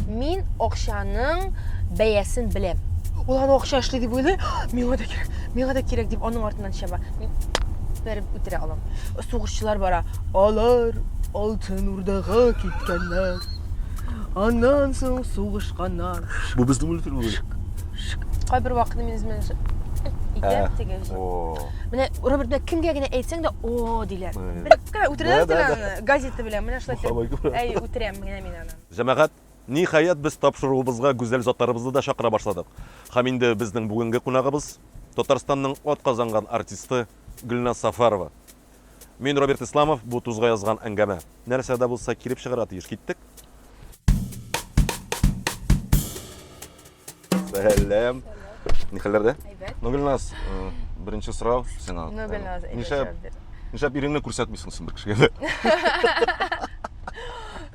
Мин акчаның бәясен беләм. Ул аны акча эшли дип уйлый, миңа да кирәк, миңа да кирәк дип аның артыннан чаба. Мин бәреп үтерә алам. Сугышчылар бара. Алар алтын урдага киткәннәр. Аннан соң сугышканнар. Бу безнең мультфильм була. Кайбер вакытта мин үземә итәм теге. Менә Роберт белән кемгә генә әйтсәң дә, о, диләр. Бер Кара, үтерәләр Да, да, син да. аны газета белән, менә шулай Мохаббат итеп. күрә. Әй, үтерәм генә мин аны. Җәмәгать, ниһаять, без тапшыруыбызга гүзәл затларыбызны да чакыра башладык. Һәм инде безнең бүгенге кунагыбыз, Татарстанның атказанган артисты Гөлназ Сафарова. Мин Роберт Исламов, бу тузга язган әңгәмә. Нәрсә дә булса килеп чыгарга тиеш. Киттек. Сәлам. Ни хәлләрдә? Әйбәт. Ну, Гөлназ, э, беренче сорау сиңа. Ну, Э, Гөлназ, әйбәт Нишләп, җавап бир. нишләп иреңне күрсәтмисең соң бер кешегә?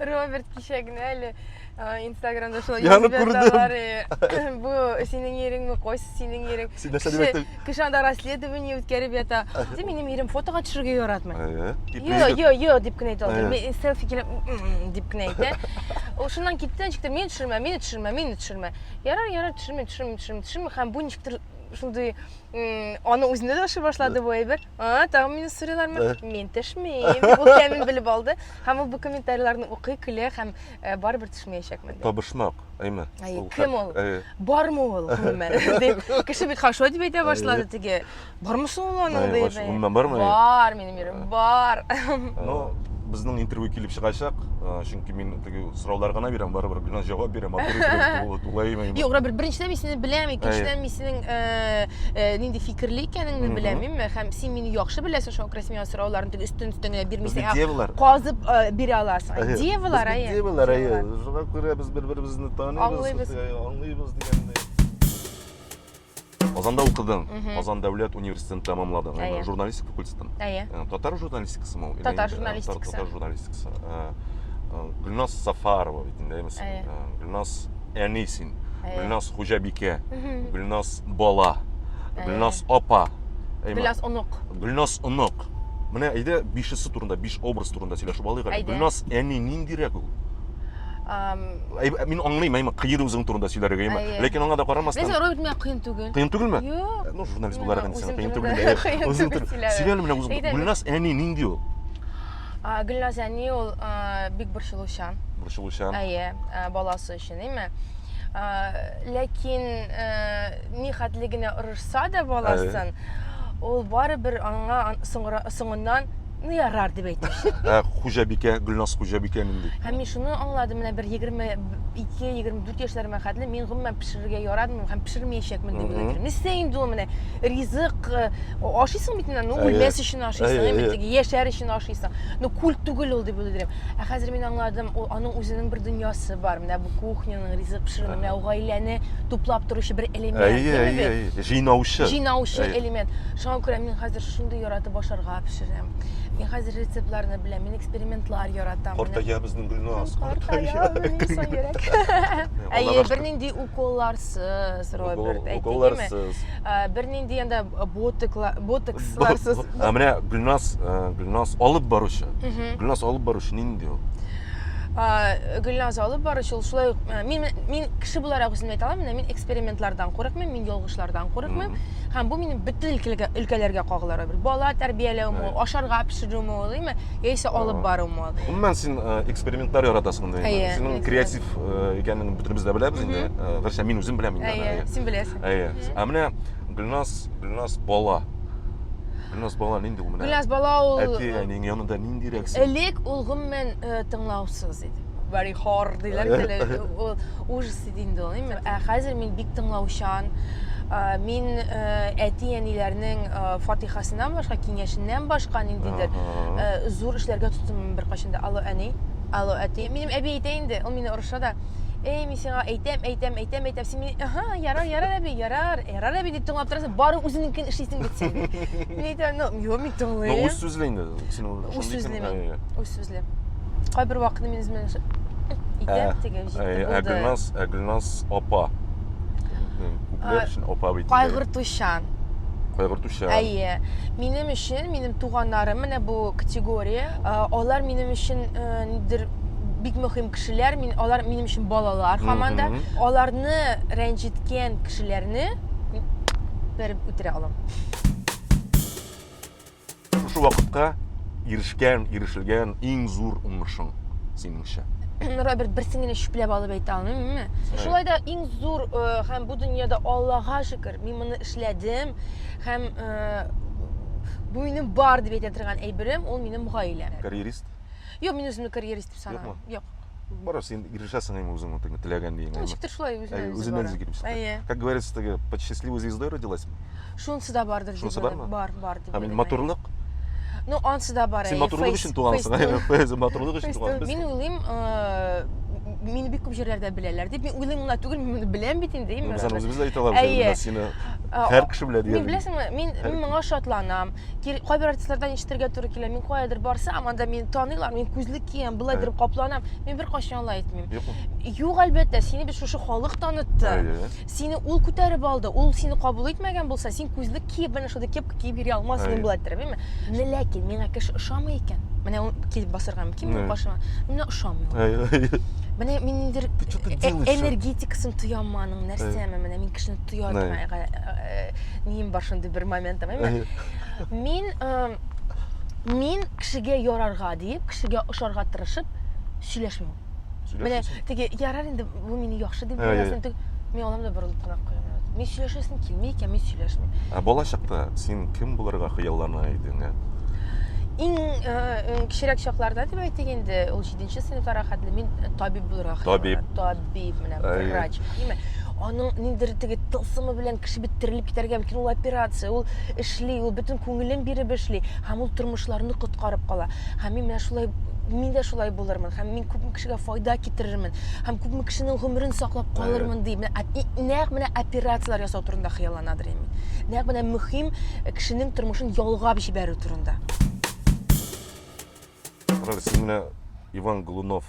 Роберт кичә генә әле э, Инстаграмда шулай Янып язып күрдем. яталар, э, Бу синең иреңме, кайсы синең ирең? Син нәрсә Кеше- димәктә? Кеше анда расследование үткәреп ята. Ди, минем ирем фотога төшергә яратмый. Әйе. Йо, йо, йо дип кенә әйтә ул. Әйе. Мин селфи килеп «М-м-м» дип кенә әйтә. Ул шуннан китте, ничек тә мине төшермә, мине төшермә, мине төшермә. Ярар, ярар, төшермим, төшермим, төшермим, төшермим. Һәм бу ничектер шундый м, аны үзенә дә ошый башлады бу әйбер. А, тагын мине сорыйлармы? Мин төшмим. Ул кемне белеп алды. Һәм ул бу комментарийларны укый, көлә һәм Ә, барыбер төшмәячәкмен. Табышмак, әйме. Әй, кем ул? Бармы ул, гомумән? Дип, кеше бит хорошо дип әйтә башлады теге. Бармы соң ул аның дип. Гомумән бармы? Бар, минем ирем, бар. Ну, безнең интервью килеп чыгачак, чөнки мин теге сораулар гына бирәм, барыбер гына җавап бирәм, матур тулаймы. Юк, Роберт, беренчедән мин сине беләм, икенчедән мин синең нинди фикерле икәнеңне беләм, һәм син мине яхшы беләсең, шуңа күрә син миңа сорауларны тек өстен өстен генә бирмисең. Ә девалар. Казып э, бирә аласың. Ә, девалар әйе. Девалар әйе. Шуңа күрә без бер-беребезне таныйбыз. Аңлыйбыз. Э, аңлыйбыз дигәндәй. Казанда укыдың, Казан дәүләт университетын тәмамладың, әйе. журналистика факультетын. Әйе. Э, татар журналистикасы мол? Татар журналистикасы. Татар журналистикасы. Гүлназ Сафарова бит инде, әйме син? Гүлназ әни син. Гүлназ хуҗабикә. Гүлназ бала. Гүлназ апа. Гүлназ онык. Гүлназ онык. Юк. Менә әйдә бишесе турында, биш образ турында сөйләшеп алыйк әле. Гөлназ әни ниндирәк ул? Мин аңлыйм, әйме, кыер үзең турында сөйләргә, әйме. Ләкин аңа да карамастан... Без роль бирмәк кыен түгел. Кыен түгелме? Юк. Ну, журналист буларак инде сен кыен түгелме? Үзең түгел. Сөйлә әле менә үзең. Гөлназ әни нинди ул? Гөлназ әни ул бик борчылучан. Борчылучан. Әйе, баласы өчен, әйме? Ләкин ни хәтле генә орышса да баласын, ул барыбер аңа соңыннан ну ярар дип әйтүче. Ә хуҗабикә, Гөлназ хуҗабикә нинди? Һәм мин шуны аңладым, менә бер 22-24 яшьләремә хәтле мин гомумән пешерергә яратмыйм һәм пешермәячәкмен дип уйлыйм. Нәрсә инде ул менә ризык ашыйсың бит инде, ну үлмәс өчен ашыйсың, әйме, яшәр өчен ашыйсың. Ну культ түгел ул дип уйлыйм. Ә хәзер мин аңладым, ул аның үзенең бер дөньясы бар. Менә бу кухняның, ризык пешерүнең, менә ул гаиләне туплап торучы бер элемент. Әйе, әйе, әйе, җыйнаучы. Җыйнаучы элемент. Шуңа күрә мин хәзер шундый яратып ашарга пешерәм. Мин хәзер рецептларны беләм, мин экспериментлар яратам. Картая безнең Гөлназ, картая. Әйе, бернинди уколларсыз, Роберт, әйтелгәнме? Уколларсыз. Ә, Бернинди янда ботокла- ботоксларсыз. Ә менә Гөлназ, э, Гөлназ алып баручы. Мгм. Гөлназ алып баручы нинди ул? Ә, Гөлназ алып баручы ул шулай ук ә, мин мин кеше буларак үземне әйтә алам, менә мин экспериментлардан курыкмыйм, мин ялгышлардан курыкмыйм. Мгм. Һәм бу минем бөтен өлкәләргә, өлкәләргә кагылыр. Бер бала тәрбияләүме, Әйе. ул, ашарга пешерүме, ул, димме, яисә алып Ага. барумы ул. Гомумән син э, экспериментлар яратасың инде. Әйе, Синең эксперимент. креатив э, икәнлегеңне бөтенебез дә беләбез инде. Мгм. Э, Гәрчә мин үзем беләм инде. аны, Әйе, әйе. син беләсең. Әйе. Ә менә Гөлназ, Гөлназ бала. Гөлназ бала нинди ул менә? Гөлназ бала ул Әти әнинең янында ниндирәк син? Элек ул гомумән э, тыңлаусыз иде. Very hard диләр әле. Ул ужас иде инде ул. Ә хәзер мин бик тыңлаучан. Э, мин э, әти әниләрнең фатихасыннан башка, киңәшеннән башка ниндидер зур эшләргә тотынмыйм беркайчан да. Алло әни, алло әти. Минем әби әйтә инде, ул мине орыша да. Эй, сиңа әйтәм, әйтәм, әйтәм, әйтәм, син мин, ага, ярар, ярар әби, ярар, ярар әби дип тыңлап торасың, бары үзеңнекен эшлисең бит син. Мин әйтәм, ну, юк, мин тыңлыйм. Ну, үз сүзле инде, син ул шундый. Үз сүзле мин, үз сүзле. Кайбер вакытны мин үземә итәм, ә, теге җитте ә, булды. Ә Гөлназ, ә Гөлназ апа. Күпләр өчен апа бит. Кайгыртучан. Кайгыртучан. Әйе. Минем өчен, минем туганнарым, менә бу категория, алар минем өчен э, нидер бик мөһим кешеләр, мин алар минем өчен балалар һаман да. Аларны рәнҗеткән кешеләрне мин бәреп үтерә алам. Шушы вакытка ирешкән, ирешелгән иң зур уңышың синеңчә? Роберт берсен генә чүпләп алып әйтә алмыйм. Шулай да иң зур э, һәм бу дөньяда Аллага шөкер, мин моны эшләдем һәм э, бу минем бар дип әйтә торган әйберем, ул минем гаиләм. Карьерист? Юк, мин үземне карьерист дип санамыйм. Юк. Барас, син ирешәсең әйме үзең утыңа, теләгән диеңә. Ничектер шулай үзеннән үзе. Үзеннән үзе килеп чыкты. Как говорится, теге под счастливой звездой родилась. Шунысы да бардыр дип уйлыйм. Бар, бар дип уйлыйм. Һәм матурлык? Ну, ансы да бар. Син матурлык өчен тугансың, әйе, матурлык өчен тугансың. Мин уйлыйм, мине бик күп җирләрдә беләләр дип. Мин уйлыйм гына түгел, мин моны беләм бит инде. Без аны үзебез дә әйтә алабыз, син һәр кеше белә диярлек. Мин беләсеңме, мин мин моңа шатланам. кайбер артистлардан ишетергә туры килә мин каядыр барсам анда мине таныйлар мин күзлек киям былай итеп капланам мин беркайчан алай итмим юк әлбәттә сине бит шушы халык танытты сине ул күтәреп алды ул сине кабул итмәгән булса син күзлек киеп менә шундый кепка киеп йөри алмас идең былай иттереп менә ләкин миңа кеше ошамый икән менә ул килеп басарга мөмкин минем каршыма миңа ошамый ул менә мин ниндидер энергетикасын тояммы аның нәрсәме менә мин кешене тоя ним бар шундый бер моментым әйме мин мин кешегә ярарга диеп кешегә ошарга тырышып сөйләшмим менә теге ярар инде бу мине яхшы дип беләсең мин алам да борылып кына куям мин сөйләшәсем килми икән мин сөйләшмим ә балачакта син кем булырга хыяллана идең ә иң кечерәк чакларда дип әйтик инде ул җиденче сыйныфларга хәтле мин табиб булырга табиб диеп менә врач димме аның ниндидер теге тылсымы белән кеше бит терелеп китәргә мөмкин ул операция ул эшли ул бөтен күңелен биреп эшли һәм ул тормышларны коткарып кала һәм мин менә шулай мин дә шулай булырмын һәм мин күпме кешегә файда китерермен һәм күпме кешенең гомерен саклап калырмын дип нәкъ менә операцияләр ясау турында хыялланадыр инде нәкъ менә мөһим кешенең тормышын ялгап җибәрү турында Роль син менә Иван Глунов,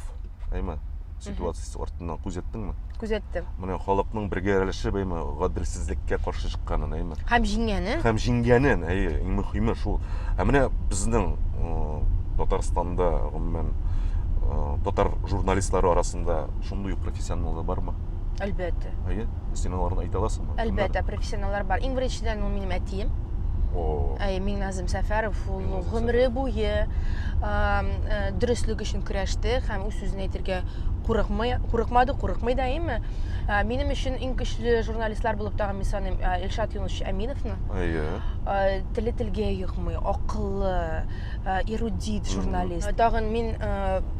әйме? Ситуациясе артыннан күз яттыңмы? Күз яттым. Менә халыкның бергә рәлеше бәйме гаделсезлеккә каршы чыкканын, әйме? Хәм җиңгәнен. Хәм җиңгәнен, әйе, иң мөхиме шул. Ә менә безнең Татарстанда, гомумән, татар журналистлары арасында шундый ук профессионаллар бармы? Әлбәттә. Әйе, син аларны әйтә аласыңмы? Әлбәттә, профессионаллар бар. Иң беренчедән ул минем әтием. О. Әйе, Миңназ Әгъзам Сәфәров ул гомере буе э, дөреслек өчен көрәште һәм үз сүзен әйтергә курыкмый, курыкмады, курыкмый да әйме. Э, минем өчен иң көчле журналистлар булып тагын мин саныйм э, Илшат Юнусович Әминовны. Әйе. Теле телгә йокмый, акыллы, эрудит журналист. Тагын мин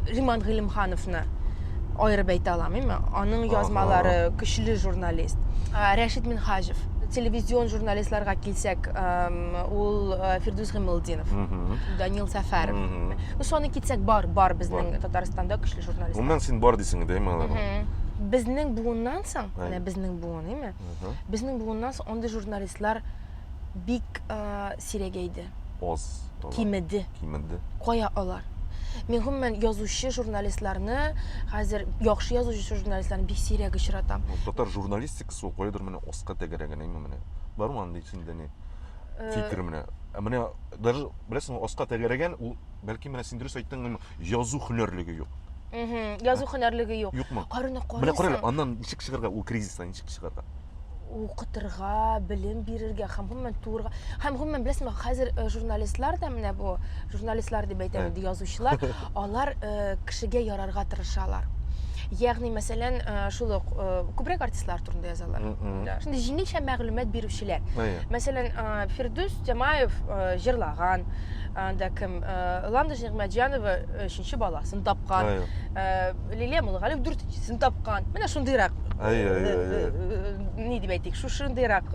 Риман Гыйлемхановны аерып әйтә алам, әйме. Аның язмалары көчле журналист. Рәшит Минхаҗев телевизион журналистларга килсәк, Ул э, Фирдүс Гыймылдинов, Данил Сәфәров. Ну, соны китсәк бар, бар безнең Татарстанда көчле журналистлар. Гомумән син бар дисең инде, әйме аларга? Безнең буыннан соң, менә безнең буын, әйме? Безнең буыннан соң андый журналистлар бик э, сирәгәйде. Оз. Кимеде. Кимеде. Кая алар? Мин гомумән язучы журналистларны хәзер яхшы язучы журналистларны бик сирәк очратам. Татар журналистикасы ул кайдыр менә оска тәгәрәгән әйме менә. Бармы андый синдә ни? э, фикер менә ә менә даже беләсеңме аска тәгәрәгән ул бәлки менә син дөрес айттың язу һөнәрлеге юк язу һөнәрлеге юк юкмы карыны карыйсың менә карале аннан ничек чыгарга ул кризистан ничек чыгарга укытырга белем бирергә һәм гомумән туырга һәм гомумән беләсеңме хәзер э, журналистлар да менә бу журналистлар дип әйтәм инде язучылар алар э, кешегә ярарга тырышалар ягъни мәсәлән э, шул ук э, күбрәк артистлар турында язалар шундый җиңелчә мәгълүмат бирүчеләр мәсәлән фирдүс тямаев җырлаган анда кем ландыш нигъмәтҗанова өченче баласын тапкан лилия мулгалиев дүртенчесен тапкан менә шундыйрак ни дип әйтик шушындыйрак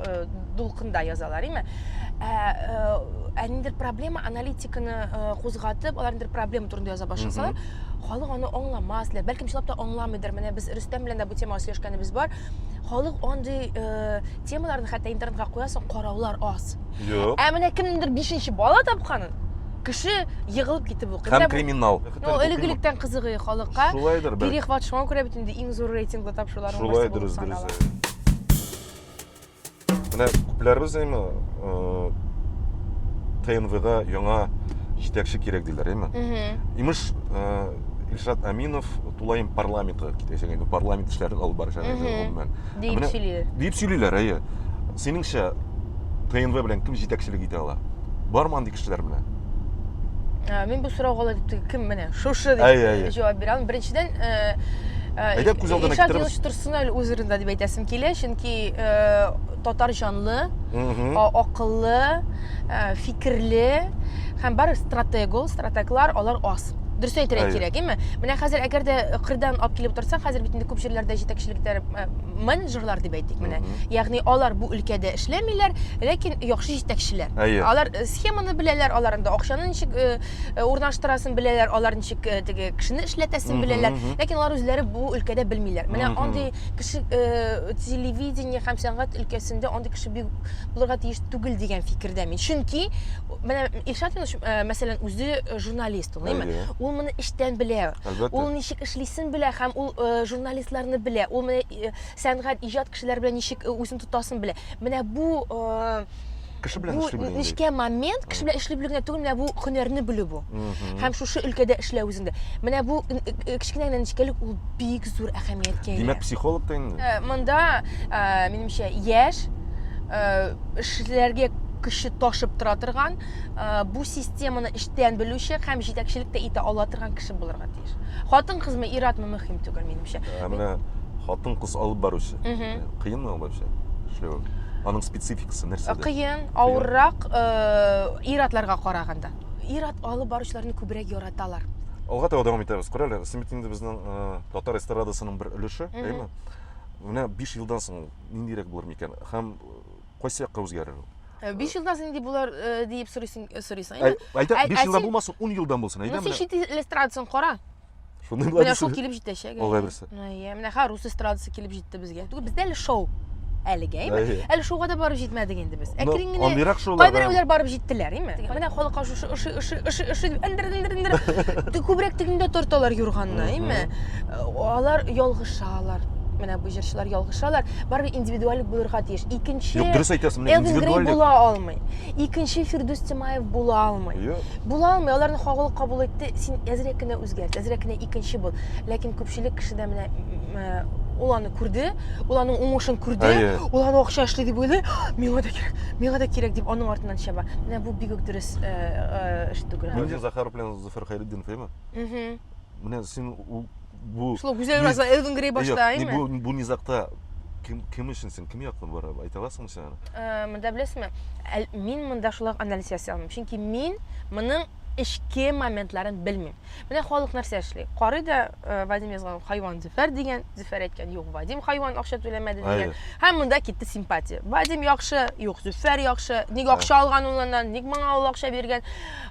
дулкында язалар име ә, ә, ә ниндер проблема аналитиканы ә, кузгатып алар ниндер проблема турында яза башласалар халык аны аңламас лә бәлкем чынлап та аңламыйдыр менә без рөстәм белән дә бу темага сөйләшкәнебез бар халык андый ә, темаларны хәтта интернетка куясың караулар аз юк ә менә кемнеңдер бишенче бала тапканын кеше егылып китеп укый һәм криминал ну элегелектән кызыгый халыкка шулайдыр бәлкем перехват шуңа күрә бит инде иң зур рейтинглы тапшырулар шулайдыр дөрес дөрес Менә күпләребез әйме ТНВда яңа җитәкче кирәк диләр, әйме? Имеш, Илшат Аминов тулаем парламентка китәчәк инде, парламент эшләрен алып барачак инде гомумән. Дип сөйлиләр. Дип сөйлиләр, әйе. Синеңчә ТНВ белән кем җитәкчелек итә ала? Бармы андый кешеләр менә? Мин бу сорауга ла дип кем менә шушы дип җавап бирә алам. Беренчедән, Илшат Юлович торсын әле үз урынында дип әйтәсем килә, чөнки чөнки э, татар җанлы, акыллы, э, фикерле һәм бар стратег ул, стратеглар алар аз. Дөрес әйтергә кирәк, әйме? Менә хәзер әгәр дә кырдан алып килеп торса, хәзер бит инде күп җирләрдә җитәкчелектә э, менеджерлар дип әйтик менә. Ягъни алар бу өлкәдә эшләмиләр, ләкин яхшы җитәкчеләр. Алар э, схеманы беләләр, алар инде акчаны ничек э, урнаштырасын беләләр, алар ничек теге кешене эшләтәсен беләләр, ләкин алар үзләре бу өлкәдә белмиләр. Менә андый кеше э, телевидение һәм сәнгать өлкәсендә андый кеше бик булырга тиеш түгел дигән фикердә мин чөнки менә илшат юныс э, мәсәлән үзе э, журналист ул әйе Әйе. ул моны эчтән белә Әлбәттә. ул ничек эшлисен белә һәм ул э, журналистларны белә ул менә э, сәнгать иҗат кешеләре белән ничек э, үзен тотасын белә менә бу э, кеше белән эшли белү нечкә момент кеше белән эшли белү генә түгел менә бу һөнәрне белү бу һәм шушы өлкәдә эшләү үзендә менә бу э, э, э, кечкенә генә нечкәлек ул бик зур әһәмияткә ия димәк психолог та инде монда минемчә яшь эшләргә көче ташып тора торган бу системаны эчтән белүче һәм җитәкчелек тә итә ала торган кеше булырга тиеш хатын кызмы ир атмы мөһим түгел минемчә ә менә хатын кыз алып баручы кыенмы алып баручы эшләү аның спецификасы кыскасы нәрсәдә? Кыен, авыррак э, ир-атларга караганда. Ир-ат алып баручыларны күбрәк яраталар. Алга таба дәвам итәбез. Күр әле, Син бит инде безнең э, татар эстрадасының бер өлеше, әйеме? Менә 5 елдан соң ниндирәк булыр микән? Һәм э, кайсы якка үзгәрер ул? Э, биш елдан соң нинди булар э, диеп сорыйсың, э, сорыйсың. Әй- Әйдә, ә- 5 ә елдан син- булмасын, 10 елдан булсын, Ну, әйдә син менә. чит ил эстрадасын кара. Шуны була Менә шул килеп җитәчәк. Ул әйберсе. Әйе, менә ха рус эстрадасы килеп җитте безгә. Түгел, бездә әле шоу. Әлегә, әйме? Әле шоуга да барып җитмәдек инде без. Әкрен генә. Андыйрак шоулар. Кайберәүләр барып җиттеләр, әйме? Менә халыкка шушы ыши ыши ыши ыши дип эндер эндер эндер. Күбрәк тегендә торталар юрганны, әйме? Алар ялгышалар менә бу җырчылар ялгышалар барыбер индивидуаль булырга тиеш икенче юк дөрес әйтәсең менә индивидуаль була алмый икенче фирдүс тимаев була алмый була алмый аларны кагылып кабул ит әйтте, син әзрәк кенә үзгәрт, әзрәк кенә икенче бул. Ләкин күпчелек кеше дә менә ул аны күрде, ул аның уңышын күрде, ул аны акча эшли дип уйлый, миңа да кирәк, миңа да кирәк дип аның артыннан чаба. Менә бу бик үк дөрес э, э, эш түгел. Менә Захар белән Зуфер Хайретдин феймы? Угу. Менә син бу Шул гүзәл раза Элвин Грей башта, әйме? Бу бу низакта кем кем өчен син кем яклы бара айта аласыңмы син аны? Э, монда беләсезме? Мин монда шулай анализ ясый алмыйм. Чөнки мин моның эчке моментларын белмим. Менә халык нәрсә эшли? Карый да э, Вадим язган хайван Зөфәр дигән, Зөфәр әйткән юк, Вадим хайван акча түләмәде дигән. Һәм монда китте симпатия. Вадим яхшы, юк, Зөфәр яхшы. Ник акча алган ул аннан? Ник моңа ул акча биргән?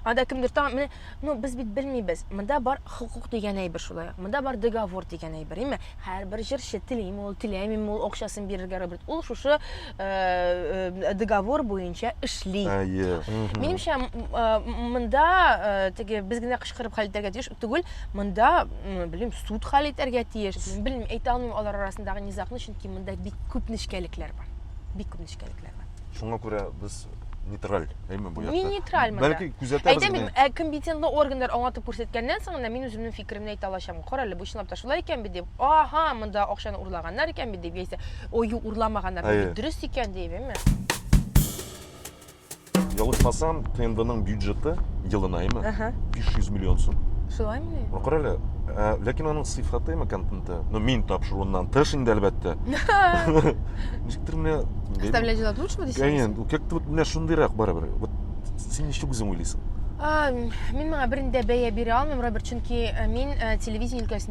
Анда кемдер тагын менә, ну без бит белмибез. Монда бар хукук дигән әйбер шулай. Монда бар договор дигән әйбер, име? Һәрбер җырчы телиме ул, теләмиме ул акчасын бирергә Роберт. Ул шушы э, договор буенча эшли. Әйе. Минемчә, монда э, теге без генә кычкырып хәл итәргә тиеш түгел, монда, белмим, суд хәл итәргә тиеш. Белмим, әйтә алмыйм алар арасындагы низагны, чөнки монда бик күп нечкәлекләр бар. Бик күп нечкәлекләр бар. Шуңа күрә без нейтраль, әйме бу якта. Мин нейтраль монда. Бәлки күзәтәбез. Әйтәм бит, ә компетентлы органнар аңлатып күрсәткәннән соң гына мин үземнең фикеремне әйтә алачам. Кара әле, бу чынлап та шулай икән бит дип. Аһа, монда акчаны урлаганнар икән бит дип яисә, ой, юк, урламаганнар, Әйе. бит дөрес икән дип, әйме? Ялгышмасам, ТНВның бюджеты елына, әйме? Әһә. 500 миллион сум. Шулаймы ни? Ну, кара әле, ә, ләкин аның сыйфаты, әйме, контенты, ну, мин тапшыруыннан тыш инде, әлбәттә. Ничектер менә... бәлем- Оставлять желать лучшего дисең? Әйе, ну, как-то вот менә шундыйрак барыбер. Вот син ничек үзең уйлыйсың? А, Мин моңа берни дә бәя бирә алмыйм, Роберт, чөнки э, мин э, телевидение өлкәсендә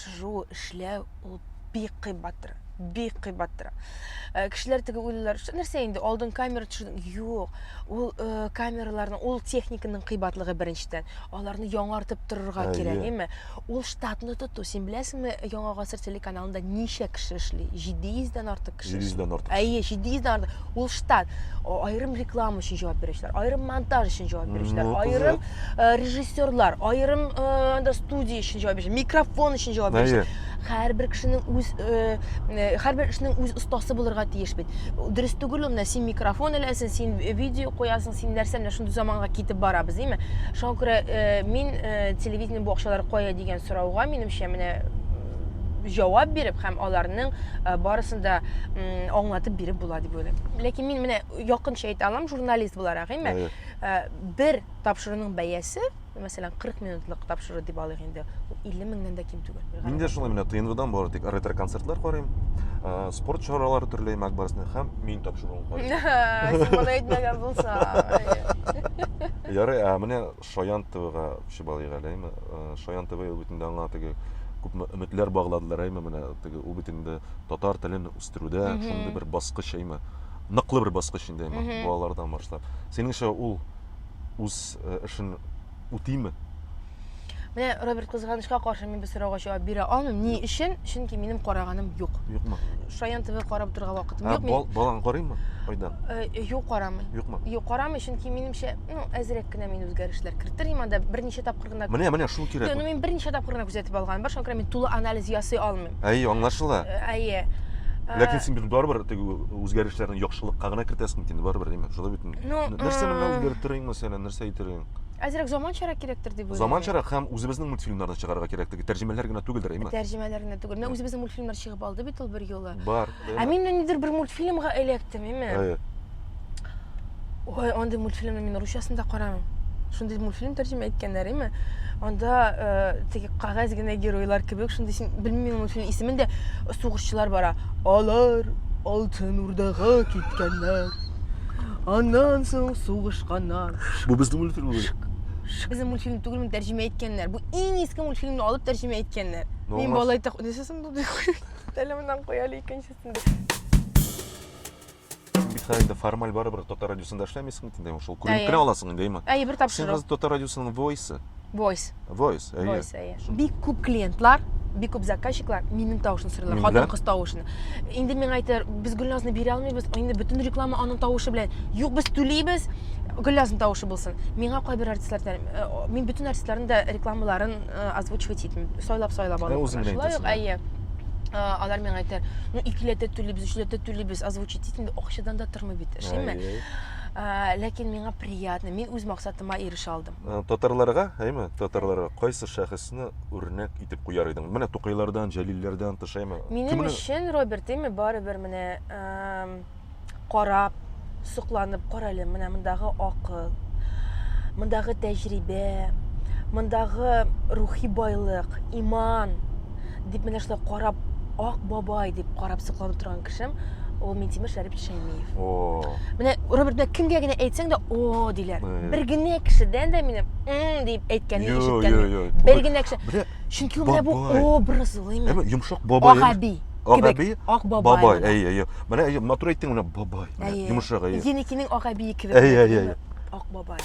Шушы эшләү ул бик кыйбат тора. Бик кыйбат тора. Э, кешеләр теге уйлыйлар, что нәрсә инде, алдын камера төшердең. Юк, ул э, камераларның, ул техниканың кыйбатлыгы беренчедән. Аларны яңартып торырга Әйе. кирәк, әйме? Ул штатны тоту. Син беләсеңме, Яңа гасыр телеканалында ничә кеше эшли? 700 дән артык 700 дән артык. Әйе, 700 дән артык. Ул штат. Аерым реклама өчен җавап бирүчеләр, аерым монтаж өчен җавап бирүчеләр, ну, аерым э, режиссерлар, аерым э, студия өчен җавап бирүчеләр, микрофон өчен җавап бирүчеләр. Һәрбер кешенең үз э, э, һәрбер эшнең үз остасы булырга тиеш бит. Дөрес түгел ул, син микрофон эләсен, син видео куясың, син нәрсә, менә шундый заманга китеп барабыз, димме? Шуңа күрә э, мин э, телевидение бу акчалар кая дигән сорауга, минемчә, менә җавап биреп һәм аларның э, барысын да аңлатып биреп була дип уйлыйм ләкин мин менә якынча әйтә алам журналист буларак әйме э, бер тапшыруның бәясе мәсәлән 40 минутлык тапшыру дип алыйк инде 50 меңнән дә ким түгел мин дә шулай менә тнвдан бары тик ретро концертлар карыйм э, спорт чаралары төрле мәк барысына һәм мин тапшыруын карыйм син моны әйтмәгән булсаң ярый ә менә Шаян ТВга чыбалыйк әле, әйме. Э, Шаян ТВ ул бит инде аңа теге күпме өметләр багладылар, әйме, менә теге ул бит инде татар телен үстерүдә шундый бер баскыч, әйме. Ныклы бер баскыч инде, әйме, балалардан башлап. Синеңчә, ул үз э, эшен үтиме? Менә Роберт кызганычка каршы мин бу сорауга җавап бирә алмыйм. Ни өчен? Чөнки минем караганым юк. Юкмы? Шаян ТВ карап торга вакытым Ә, юк. бал- Мин балаң карыймы? Айдан. Э, юк карамый. Юкмы? Юк карамый, чөнки минемчә ну әзрәк кенә мин үзгәрешләр кертер идем анда берничә тапкыр гына менә менә шул кирәк ну мин берничә тапкыр гына күзәтеп алган бар шуңа күрә мин тулы анализ ясый алмыйм әй аңлашыла э, әйе ләкин син бит барыбер теге үзгәрешләрне яхшылыкка гына кертәсең бит инде барыбер әйме шулай бит ну нәрсә менә үзгәртер идең мәсәлән нәрсә әйтер идең әзрәк заманчарак кирәктер дип уйлыйм заманчарак һәм үзебезнең мультфильмнарны чыгарырга кирәк теге тәрҗемәләр генә түгелдер әйме тәрҗемәләр генә түгел менә үзебезнең мультфильмнар чыгып алды бит ул бер юлы бар Ә мин ниндидер бер мультфильмга эләктем, име? Әйе. Ой, андый мультфильмны мин русчасын да карамыйм. Шундый мультфильм тәрҗемә иткәннәр, име? Анда э, теге кагаз генә геройлар кебек, шундый син белмим мультфильм исемен дә сугышчылар бара. Алар Алтын Урдага киткәннәр. Аннан соң сугышканнар. Бу безнең мультфильм бит. Безнең мультфильм түгелме тәрҗемә иткәннәр. Бу иң иске мультфильмны алып тәрҗемә иткәннәр. Мин Нормас. балай так... Нәрсәсен булды? Әле моннан куй әле икенчесен. Бит инде формаль барыбер татар радиосында эшләмисең инде шул күренеп кенә аласың инде иман. Әйе, бер тапшыру. Син хәзер татар радиосының voice. Voice. Voice, әйе. Voice, әйе. Бик күп клиентлар бик күп заказчиклар минем тавышын сорыйлар хатын кыз тавышын инде миңа әйтәләр без гөлназны бирә алмыйбыз инде бөтен реклама аның тавышы белән юк без түлибез гөлназның тавышы булсын миңа кайбер артистлар э, мин бөтен артистларның да рекламаларын озвучивать итмим сайлап сайлап алып кына шулай ук әйе алар миңа әйтәләр ну икеләтә түлибез өчләтә түлибез озвучить итмим акчадан да тормый бит эшлиме ләкин миңа приятно мин үз максатыма ирешә алдым татарларга әйме татарларга кайсы шәхесне үрнәк итеп куяр идең менә тукайлардан җәлилләрдән тыш әйме минем өчен роберт әйме барыбер менә карап, сокланып карале, менә мондагы акыл, мондагы тәҗрибә, мондагы рухи байлык, иман дип менә шулай карап, ак бабай дип карап сокланып торган кешем ул Минтимер Шәрипов Шәймиев. О. Менә Роберт белән кемгә генә әйтсәң дә о диләр. Бер генә кешедән дә минем м дип әйткәнне ишеткәнем. Бер генә кеше. Чөнки ул менә бу образ ул именно. Йомшак бабай. Агаби. Агаби, бабай, әй, әй, менә әй, матур әйттең менә бабай, йомшак әй. Енекинең агабие кебек. Әй, әй, әй. Ак бабай.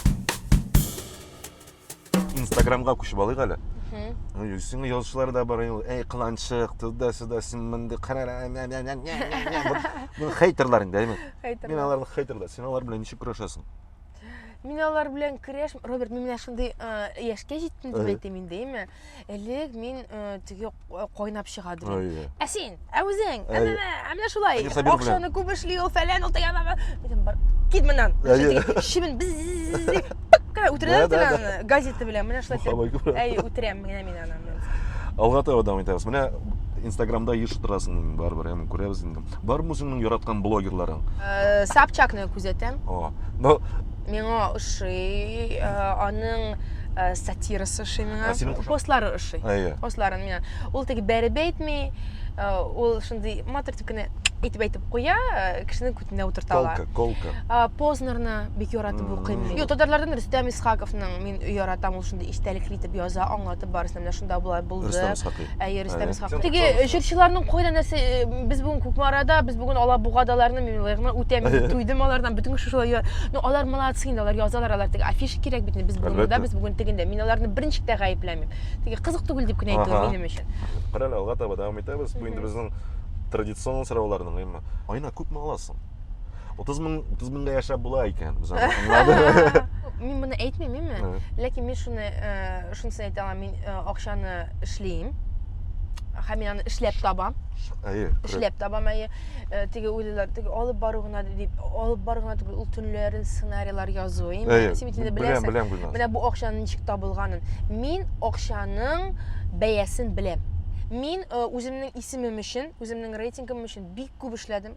Инстаграмга күчеп алыйк әле. Сиңа язучылар да бар, әй, кыланчык, туда, сюда, син мондый карара, Бу хейтерлар инде, әйме? Хейтерлар. Мин аларны хейтерлар. Син алар белән ничек көрәшәсең? Мин алар белән көрәш, Роберт, мин менә шундый яшькә җиттем дип әйтәм инде, әйме? Элек мин э, теге э, кайнап чыга дидем. Әйе. Ә син, ә үзең, ә Әйе. менә, ә менә шулай. Әйе, Сабир белән. Акчаны күп эшли ул, фәлән ул тегән. Дидем, бар, кит моннан. Әйе. Шибен без пык кына үтерәләр Да, да, да. аны газета белән. Менә шулай. Мохаббат итеп. күрә. Әйе, үтерәм генә мин аны. Алга таба дәвам итәбез. Менә Инстаграмда еш утырасың инде, барыбер, әмма күрәбез инде. Бармы үзеңнең яраткан блогерларың? Э, Собчакны күзәтәм. О, но Миңа ошый, э, аның э, сатирасы ошый миңа. А синең кушак? Постлары ошый. Әйе. Постларын миңа. Ул теге бәреп әйтми, э, ул шундый матур итеп кенә әйтеп әйтеп куя, э, кешенең күтенә утырта ала. Колка, колка. А, Познерны бик яратып Мгм. укыйм. мин. Юк, татарлардан Рөстәм Исхаковның мин яратам, ул шундый истәлекле итеп яза, аңлатып барысын менә шунда болай булды. Рөстәм Исхакый. Әйе, Рөстәм Исхак. Теге җырчыларның кайда нәрсә э, без бүген Кукмарада, без бүген Алабугадаларны мин лыгымны үтәм, туйдым алардан бөтен кеше шулай. Ну, алар молодцы инде, алар язалар, алар теге афиша кирәк бит, без бүген монда, без бүген тегендә. Мин аларны берничек тә гаепләмим. Теге кызык түгел дип кенә әйтү минем өчен. Кара алга таба дәвам итәбез. Бу инде безнең традицион сорауларның, әмма Айна күпме аласың? 30 мең 30 меңгә яшәп була икән. Без аны аңладык. Мин моны әйтмим, әйме? Ләкин мин шуны э, шунысын әйтә алам, мин э, акчаны эшлим. Һәм мин аны эшләп табам. Әйе. Эшләп табам, әйе. Э, теге уйлыйлар, теге алып бару гына дип, алып бару гына түгел, ул төнләрен сценарийлар язу. Әйе. Син инде беләсең. Беләм, беләм, Менә бу акчаның ничек табылганын. Мин акчаның бәясен беләм. Мин э, үземнең исемем өчен, үземнең рейтингым өчен бик күп эшләдем.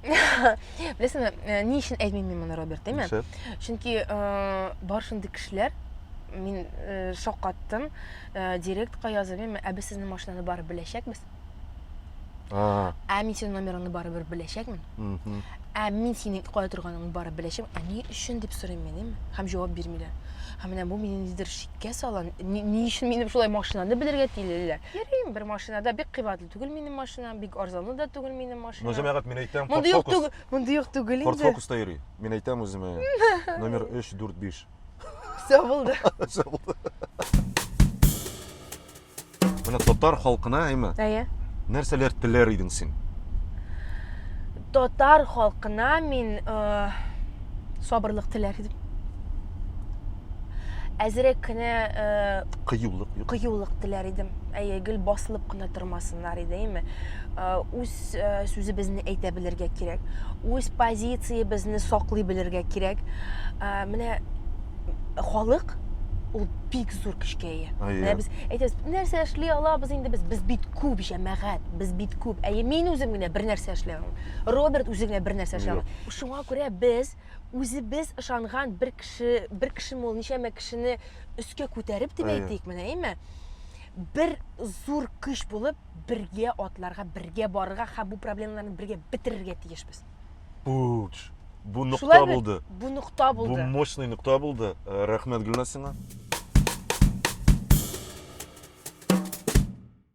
Беләсеңме, э, ни өчен әйтмим мин моны, Роберт, димме? Чөнки э, бар шундый кешеләр, мин э, шакаттым, директка язып, ә без сезнең машинаны барып беләчәкбез. А. Ә мин синең номерыңны барыбер беләчәкмен. Ә мин синең кая торганыңны барып беләчәм. Ә ни өчен дип сорыйм мин, һәм җавап бирмиләр. Һәм менә бу мине нидер шиккә сала. Ни өчен минем шулай машинаны белергә тилеләр? Йөрим бер машинада бик кыйбат түгел минем машина, бик арзанлы да түгел минем машина. Ну, җәмәгать, мин әйтәм, Монда юк түгел, монда юк түгел инде. Ford Focus та йөри. Мин әйтәм үземә, номер 3, 4, 5. Все булды. Все булды. Менә татар халкына, әйме? Әйе. Нәрсәләр теләр идең син? Татар халкына мин э, сабырлык теләр идем. Әзерәк кенә э, Кыюлык юк. кыюлык теләр идем. Әйе, гел басылып кына тормасыннар иде, әйме. Э, Үз э, сүзебезне әйтә белергә кирәк. Үз позициябезне саклый белергә кирәк. Э, Менә халык ул бик зур көчкә ия. Әйе. Менә без әйтәбез, нәрсә эшли алабыз инде без? Без бит күп Җәмәгать, без бит күп. Әйе, мин үзем генә бер нәрсә эшли алмыйм. Роберт үзе генә бер нәрсә эшли алмый. Шуңа күрә без үзебез ышанган бер кеше, бер кеше мул ничәмә кешене өскә күтәреп дип әйтик, менә әйме? Бер зур көч булып бергә атларга, бергә барырга һәм бу проблемаларны бергә бетерергә тиешбез. Буч. Бу нокта булды. Бу нокта булды. Бу мощный нокта булды. Э, рәхмәт Гөлнасиңа.